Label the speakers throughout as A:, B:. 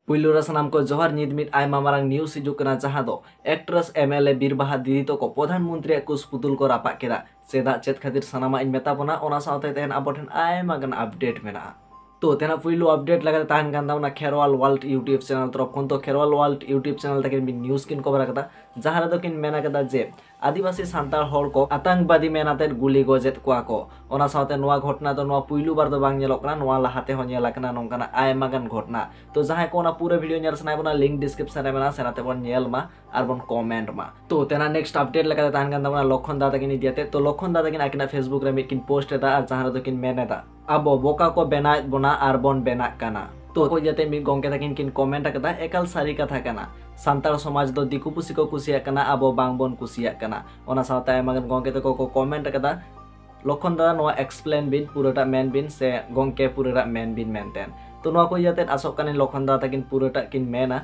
A: ᱯᱩᱭᱞᱩ ᱨᱮ ᱥᱟᱱᱟᱢ ᱠᱚ ᱡᱚᱦᱟᱨ ᱧᱤᱫ ᱢᱤᱫ ᱟᱭᱢᱟ ᱢᱟᱨᱟᱝ ᱱᱤᱭᱩᱡ ᱦᱤᱡᱩᱜ ᱠᱟᱱᱟ ᱡᱟᱦᱟᱸ ᱫᱚ ᱮᱠᱴᱨᱮᱥ ᱮᱢᱮᱞᱮ ᱵᱤᱨᱵᱟᱦᱟ ᱫᱤᱫᱤ ᱛᱚᱠᱚ ᱯᱨᱚᱫᱷᱟᱱ ᱢᱚᱱᱛᱨᱤᱭᱟᱜ ᱠᱩᱥ ᱯᱩᱛᱩᱞ ᱠᱚ ᱨᱟᱯᱟᱜ ᱠᱮᱫᱟ ᱪᱮᱫᱟᱜ ᱪᱮᱫ ᱠᱷᱟᱹᱛᱤᱨ ᱥᱟᱱᱟᱢᱟᱜ ᱤᱧ ᱢᱮᱛᱟ ᱵᱚᱱᱟ ᱚᱱᱟ ᱥᱟᱶᱛᱮ ᱛᱟᱦᱮᱱ ᱟᱵᱚ ᱴᱷᱮᱱ ᱟᱭᱢᱟ ᱜᱟᱱ ᱟᱯᱰᱮᱴ ᱢᱮᱱᱟᱜᱼᱟ ᱛᱚ ᱛᱮᱱᱟᱜ ᱯᱩᱭᱞᱩ ᱟᱯᱰᱮᱴ ᱞᱮᱠᱟᱛᱮ ᱛᱟᱦᱮᱱ ᱠᱟᱱ ᱛᱟᱵᱚᱱᱟ ᱠᱷᱮᱨᱣᱟᱞ ᱣᱟᱨᱞᱰ ᱤᱭᱩᱴᱩᱵᱽ ᱪᱮᱱᱮᱞ ᱛᱚᱨᱚᱯ ᱠᱷᱚᱱ ᱛᱚ ᱠᱷᱮᱨᱣᱟᱞ ᱣᱟᱨᱞᱰ ᱤᱭᱩᱴᱩᱵᱽ ᱪᱮᱱᱮᱞ ᱛᱮᱜᱮ ᱢᱤᱫ ᱱᱤᱭᱩᱡ ᱠᱤᱱ ᱠᱚᱵᱷᱟᱨ ᱟᱠᱟᱫᱟ ᱡᱟᱦᱟᱸ ᱨᱮᱫᱚ ᱠᱤᱱ ᱢᱮᱱ ᱟᱠᱟᱫᱟ ᱡᱮ ᱟᱹᱫᱤᱵᱟᱹᱥᱤ ᱥᱟᱱᱛᱟᱲ ᱦᱚᱲ ᱠᱚ ᱟᱛᱟᱝᱠᱵᱟᱫᱤ ᱢᱮᱱ ᱟᱛᱮᱫ ᱜᱩᱞᱤ ᱜᱚᱡ ᱮᱫ ᱠᱚᱣᱟ ᱠᱚ ᱚᱱᱟ ᱥᱟᱶᱛᱮ ᱱᱚᱣᱟ ᱜᱷᱚᱴᱱᱟ ᱫᱚ ᱱᱚᱣᱟ ᱯᱩᱭᱞᱩ ᱵᱟᱨ ᱫᱚ ᱵᱟᱝ ᱧᱮᱞᱚᱜ ᱠᱟᱱᱟ ᱱᱚᱣᱟ ᱞᱟᱦᱟ ᱛᱮᱦᱚᱸ ᱧᱮᱞ ᱟᱠᱟᱱᱟ ᱱᱚᱝᱠᱟᱱᱟᱜ ᱟᱭᱢᱟ ᱜᱟᱱ ᱜᱷᱚᱴᱱᱟ ᱛᱚ ᱡᱟᱦᱟᱸᱭ ᱠᱚ ᱚᱱᱟ ᱯᱩᱨᱟᱹ ᱵᱷᱤᱰᱤᱭᱳ ᱧᱮᱞ ᱥᱟᱱᱟᱭᱮᱫ ᱵᱚᱱᱟ ᱞᱤᱝᱠ ᱰᱤᱥᱠᱨᱤᱯᱥᱚᱱ ᱨᱮ ᱢᱮᱱᱟᱜᱼᱟ ᱥᱮᱱ ᱟᱛᱮ ᱵᱚᱱ ᱧᱮᱞ ᱢᱟ ᱟᱨ ᱵᱚᱱ ᱠᱚᱢᱮᱱᱴ ᱢᱟ ᱛᱚ ᱛᱮᱱᱟ ᱱᱮᱠᱥᱴ ᱟᱯᱰᱮᱴ ᱞᱮᱠᱟᱛᱮ ᱛᱟᱦᱮᱱ ᱠᱟᱱ ᱛᱟᱵᱚᱱᱟ ᱞᱚᱠᱷᱚᱱ ᱫᱟ ᱛᱟᱹᱠᱤᱱ ᱤᱫᱤᱭᱟᱛᱮ ᱛᱚ ᱞᱚᱠᱷᱚᱱ ᱫᱟ ᱛᱟᱹᱠᱤᱱ ᱟᱹᱠᱤᱱᱟᱜ ᱯᱷᱮᱥᱵᱩᱠ ᱨᱮ ᱢᱤᱫ ᱠᱤᱱ ᱯᱳᱥᱴ ᱮᱫᱟ ᱟᱨ ᱡᱟᱦᱟᱸ ᱨᱮᱫᱚ ᱠᱤᱱ ᱢᱮᱱ ᱮᱫᱟ ᱟᱵᱚ ᱵᱚᱠᱟ ᱠᱚ ᱵᱮᱱᱟᱣᱮᱫ ᱵᱚᱱᱟ ᱟᱨ ᱵᱚᱱ ᱵᱮᱱᱟᱜ ᱠᱟᱱᱟ ᱛᱚ ᱠᱚ ᱡᱟᱛᱮ ᱢᱤᱫ ᱜᱚᱝᱠᱮ ᱛᱟᱹᱠᱤᱱ ᱠᱤᱱ ᱠᱚᱢᱮᱱᱴ ᱟᱠᱟᱫᱟ ᱮᱠᱟᱞ ᱥᱟᱹᱨᱤ ᱠᱟᱛᱷᱟ ᱠᱟᱱᱟ ᱥᱟᱱᱛᱟᱲ ᱥᱚᱢᱟᱡᱽ ᱫᱚ ᱫᱤᱠᱩ ᱯᱩᱥᱤ ᱠᱚ ᱠᱩᱥᱤᱭᱟᱜ ᱠᱟᱱᱟ ᱟᱵᱚ ᱵᱟᱝ ᱵᱚᱱ ᱠᱩᱥᱤᱭᱟᱜ ᱠᱟᱱᱟ ᱚᱱᱟ ᱥᱟᱶᱛᱮ ᱟᱭᱢᱟ ᱜᱟᱱ ᱜᱚᱝᱠᱮ ᱛᱟᱠᱚ ᱠᱚ ᱠᱚᱢᱮᱱᱴ ᱟᱠᱟᱫᱟ ᱞᱚᱠᱷᱚᱱ ᱫᱟᱫᱟ ᱱᱚᱣᱟ ᱮᱠᱥᱯᱞᱮᱱ ᱵᱤᱱ ᱯᱩᱨᱟᱹᱴᱟᱜ ᱢᱮᱱ ᱵᱤᱱ ᱥᱮ ᱜᱚᱝᱠᱮ ᱯᱩᱨᱟᱹᱴᱟᱜ ᱢᱮᱱ ᱵᱤᱱ ᱢᱮᱱᱛᱮ ᱛᱚ ᱱᱚᱣᱟ ᱠᱚ ᱡᱟᱛᱮ ᱟᱥᱚᱜ ᱠᱟᱱᱟᱹᱧ ᱞᱚᱠᱷᱚᱱ ᱫᱟᱫᱟ ᱛᱟᱹᱠᱤᱱ ᱯᱩᱨᱟᱹᱴᱟᱜ ᱠᱤᱱ ᱢᱮᱱᱟ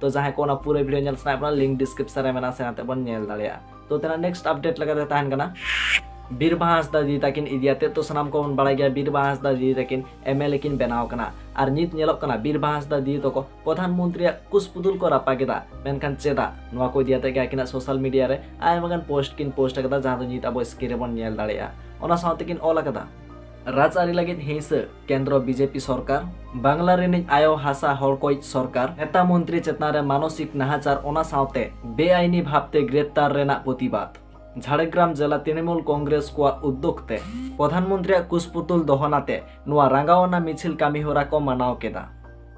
A: ᱛᱚ ᱡᱟᱦᱟᱸᱭ ᱠᱚ ᱚᱱᱟ ᱯᱩᱨᱟᱹ ᱵᱷᱤᱰᱤᱭᱳ ᱧᱮᱞ ᱥᱟᱱᱟᱭᱮᱫ ᱵᱚᱱᱟ ᱞᱤᱝᱠ ᱰᱤᱥᱠᱨᱤᱯᱥᱚᱱ ᱨᱮ ᱢᱮᱱᱟᱜᱼᱟ ᱥᱮᱱᱟᱛᱮ ᱵᱚᱱ ᱧᱮᱞ ᱫᱟᱲᱮᱭᱟᱜᱼᱟ ᱛᱚ ᱛᱮᱱᱟᱜ ᱱᱮᱠᱥᱴ ᱟᱯᱰᱮᱴ ᱞᱮᱠᱟᱛᱮ ᱛᱟᱦᱮᱱ ᱠᱟᱱᱟ ᱵᱤᱨ ᱵᱟᱦᱟ ᱦᱟᱸᱥᱫᱟ ᱫᱤᱫᱤ ᱛᱟᱹᱠᱤᱱ ᱤᱫᱤᱭᱟᱛᱮ ᱛᱚ ᱥᱟᱱᱟᱢ ᱠᱚᱵᱚᱱ ᱵᱟᱲᱟᱭ ᱜᱮᱭᱟ ᱵᱤᱨ ᱵᱟᱦᱟ ᱦᱟᱸᱥᱫᱟ ᱫᱤᱫᱤ ᱛᱟᱹᱠᱤᱱ ᱮᱢᱮᱞᱮ ᱠᱤᱱ ᱵᱮᱱᱟᱣ ᱠᱟᱱᱟ ᱟᱨ ᱱᱤᱛ ᱧᱮᱞᱚᱜ ᱠᱟᱱᱟ ᱵᱤᱨ ᱵᱟᱦᱟ ᱦᱟᱸᱥᱫᱟ ᱫᱤᱫᱤ ᱛᱟᱠᱚ ᱯᱨᱚᱫᱷᱟᱱ ᱢᱚᱱᱛᱨᱤᱭᱟᱜ ᱠᱩᱥᱯᱩᱫᱩᱞ ᱠᱚ ᱨᱟᱯᱟᱜ ᱮᱫᱟ ᱢᱮᱱᱠᱷᱟᱱ ᱪᱮᱫᱟᱜ ᱱᱚᱣᱟ ᱠᱚ ᱤᱫᱤᱭᱟᱛᱮ ᱜᱮ ᱟᱹᱠᱤᱱᱟᱜ ᱥᱳᱥᱟᱞ ᱢᱤᱰᱤᱭᱟ ᱨᱮ ᱟᱭᱢᱟ ᱜᱟᱱ ᱯᱳᱥᱴ ᱠᱤᱱ ᱯᱳᱥᱴ ᱟᱠᱟᱫᱟ ᱡᱟᱦᱟᱸ ᱫᱚ ᱱᱤᱛ ᱟᱵᱚ ᱥᱠᱨᱤᱱ ᱨᱮᱵᱚᱱ ᱧᱮᱞ ᱫᱟᱲᱮᱭᱟᱜᱼᱟ ᱚᱱᱟ ᱥᱟᱶᱛᱮ ᱠᱤᱱ ᱚᱞ ᱟᱠᱟᱫᱟ ᱨᱟᱡᱽᱟᱹᱨᱤ ᱞᱟᱹᱜᱤᱫ ᱦᱤᱸᱥᱟᱹ ᱠᱮᱱᱫᱨᱚ ᱵᱤᱡᱮᱯᱤ ᱥᱚᱨᱠᱟᱨ ᱵᱟᱝᱞᱟ ᱨᱤᱱᱤᱡ ᱟᱭᱚ ᱦᱟᱥᱟ ᱦᱚᱲ ᱠᱚᱭᱤᱡ ᱥᱚᱨᱠᱟᱨ ᱱᱮᱛᱟ ᱢᱚᱱᱛᱨᱤ ᱪᱮᱛᱟᱱ ᱨᱮ ᱢᱟᱱᱚᱥᱤᱠ ᱱᱟᱦᱟᱪᱟᱨ ᱚᱱᱟ ᱥᱟᱶᱛᱮ ᱵᱮᱟᱭᱤᱱᱤ ᱵᱷᱟᱵᱛᱮ ᱜᱨᱮᱯᱛᱟᱨ ᱨᱮᱱᱟᱜ ᱯᱚᱛᱤᱵᱟᱫ ᱡᱷᱟᱲᱜᱨᱟᱢ ᱡᱮᱞᱟ ᱛᱤᱱᱤᱢᱩᱞ ᱠᱚᱝᱜᱨᱮᱥ ᱠᱚᱣᱟᱜ ᱩᱫᱫᱚᱜ ᱛᱮ ᱯᱚᱫᱷᱟᱱ ᱢᱚᱱᱛᱨᱤᱭᱟᱜ ᱠᱩᱥᱯᱩᱛᱩᱞ ᱫᱚᱦᱚᱱᱟᱛᱮ ᱱᱚᱣᱟ ᱨᱟᱸᱜᱟᱣᱱᱟ ᱢᱤᱪᱷᱤᱞ ᱠᱟᱹᱢᱤᱦᱚᱨᱟ ᱠᱚ ᱢᱟᱱᱟᱣ ᱠᱮᱫᱟ